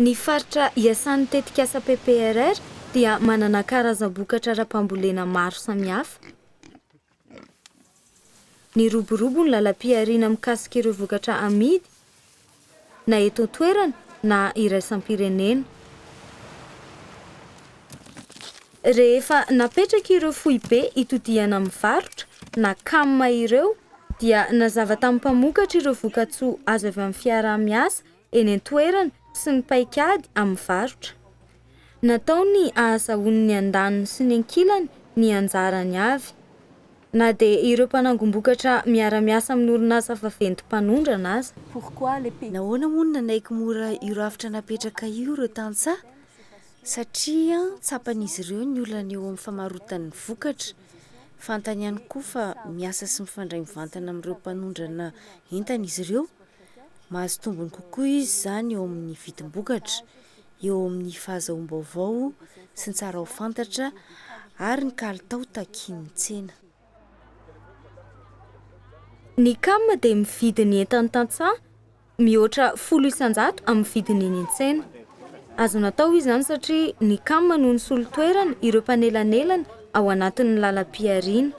Ny faritra iasan'ny tetikasa PPRR dia manana karazam-bokatra ara-pambolena maro samihafa. Niroborobo ny lalam-pihariana mikasika ireo vokatra amidy na eto an-toerana na iraisam-pirenena. Rehefa napetraka ireo foibe itodihana amin'ny varotra na cam ireo dia nazava tamin'ny mpamokatra ireo vokatsoa azo avy amin'ny fiaraha-miasa eny an-toerana sy ny paikady amin'ny varotra. Natao ny ahazahoan'ny andaniny sy ny ankilany ny anjarany avy. Na dia ireo mpanangom-bokatra miara-miasa amin'ny orinasa vaventy mpanondrana aza. Nahoana moa no nanaiky mora io rafitra napetraka io ireo tantsaha? Satria tsapan'izy ireo ny olana eo amin'ny famarotan'ny vokatra. Fantany ihany koa fa miasa sy mifandray mivantana amin'ireo mpanondrana entana izy ireo. Mahazo tombony kokoa izy izany eo amin'ny vidim-bokatra, eo amin'ny fahazahoam-baovao sy ny tsara ho fantatra ary ny kalitao takian'ny tsena. Ny cam dia mividy ny entan'ny tantsaha mihoatra folo isan-jato amin'ny vidiny eny an-tsena. Azo natao izany satria ny cam no nisolo toerana ireo mpanelanelana ao anatin'ny lalam-pihariana.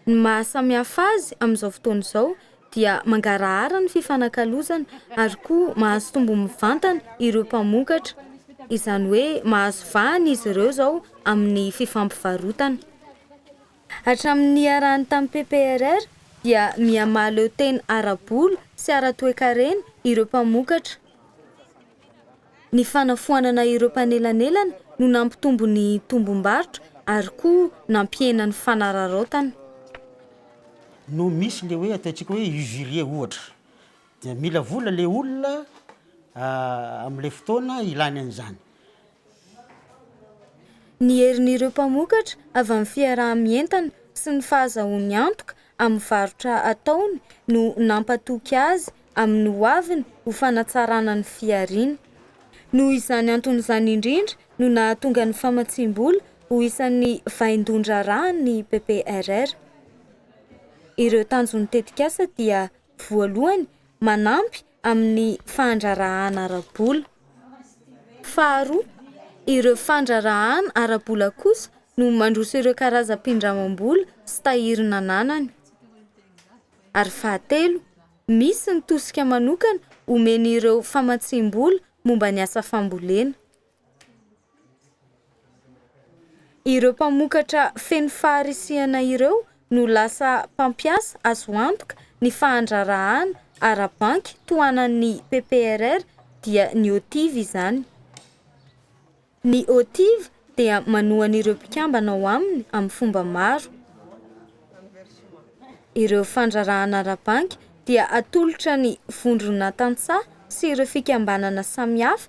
Ny maha samihafa azy amin'izao fotoana izao dia mangarahara ny fifanakalozana ary koa mahazo tombony mivantana ireo mpamokatra, izany hoe mahazo vahana izy ireo izao amin'ny fifampivarotana. Hatramin'ny niarahany tamin'ny PPRR dia miha mahaleo tena ara-bola sy ara-toekarena ireo mpamokatra. Ny fanafoanana ireo mpanelanelana no nampitombo ny tombom-barotra ary koa nampihena ny fanararaotana. no misy le hoe ataontsika hoe usurier ohatra dia mila vola le olona amle fotoana ilany an'izany Ny herin'ireo mpamokatra avy amin'ny fiaraha-mientana sy ny fahazahoany antoka amin'ny varotra ataony no nampatoky azy amin'ny ho aviny ho fanatsarana ny fihariany. Noho izany antony izany indrindra no nahatonga ny famatsiam-bola ho isan'ny vaindohan-draharahan'ny PPRR. Ireo tanjon'ny tetikasa dia voalohany manampy amin'ny fandraharahàna ara-bola. Faharoa, ireo fandraharahàna ara-bola kosa no mandroso ireo karazam-pindramam-bola sy tahiry nananany. Ary fahatelo, misy ny tosika manokana omen'ireo famatsiam-bola momba ny asa fambolena. Ireo mpamokatra feno faharisihana ireo no lasa mpampiasa azo antoka ny fahandrarahana ara-banky tohanan'ny PPRR dia ny OTIF izany. Ny OTIF dia manohana ireo mpikambana ao aminy amin'ny fomba maro. Ireo fandrarahana ara-banky dia atolotra ny vondrona tantsaha sy ireo fikambanana samihafa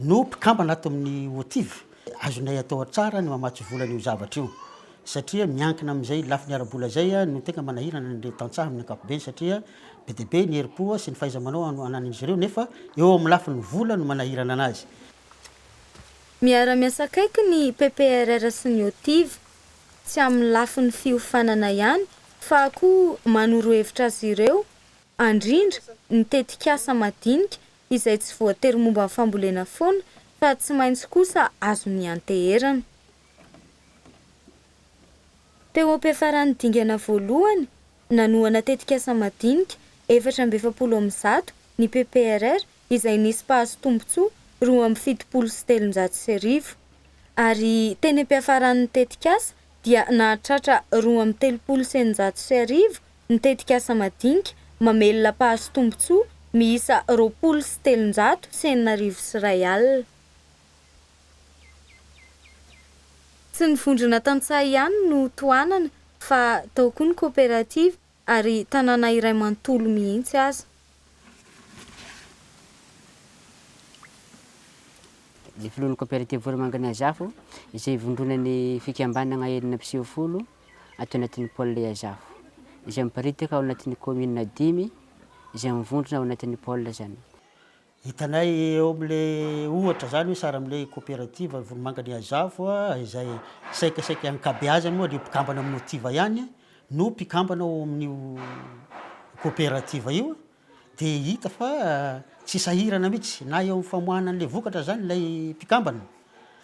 No mpikambana ato amin'ny OTIV, azonay atao tsara ny mamatsy vola an'io zavatra io satria miankina amin'izay lafiny ara-bola izay no tena manahirana an'ireo tantsaha amin'ny ankapobeny satria be dia be ny herim-po sy ny fahaiza-manao ananan'izy ireo nefa eo amin'ny lafiny vola no manahirana anazy. Miara-miasa akaiky ny PPRR sy ny OTIV, tsy amin'ny lafiny fiofanana ihany fa koa manoro hevitra azy ireo, andrindra ny tetikasa madinika izay tsy voatery momba ny fambolena foana fa tsy maintsy kosa azony ianteherana. Teo am-piafaran'ny dingana voalohany, nanohana tetikasa madinika efatra amby efapolo amin'ny zato ny PPRR izay nisy mpahazo tombontsoa roa amby fitopolo sy telonjato sy arivo, ary teny am-piafaran'ny tetikasa dia nahatratra roa amby telopolo sy eninjato sy arivo ny tetikasa madinika mamelona mpahazo tombontsoa miisa roapolo sy telonjato sy enina arivo sy iray alina. Tsy ny vondrona tantsaha ihany no tohanana fa tao koa ny koperativa ary tanàna iray manontolo mihitsy aza. Ny filohan'ny koperativa Foromanganazafo izay ivondronan'ny fikambanana enina mpiseho folo, ato anatin'ny pôle Iazafo, izay miparitaka ao anatin'ny kaominina dimy izay mivondrona ao anatin'ny pôle izany. Hitanay eo amin'ilay ohatra izany hoe saramin'ilay kaoperativa Volomangan'i Iazafo izay saikasaika ankabeazany moa dia mpikambana amin'ny Motiva ihany no mpikambana ao amin'io kaoperativa io dia hita fa tsy sahirana mihitsy na eo amin'ny famoahana an'ilay vokatra izany ilay mpikambana.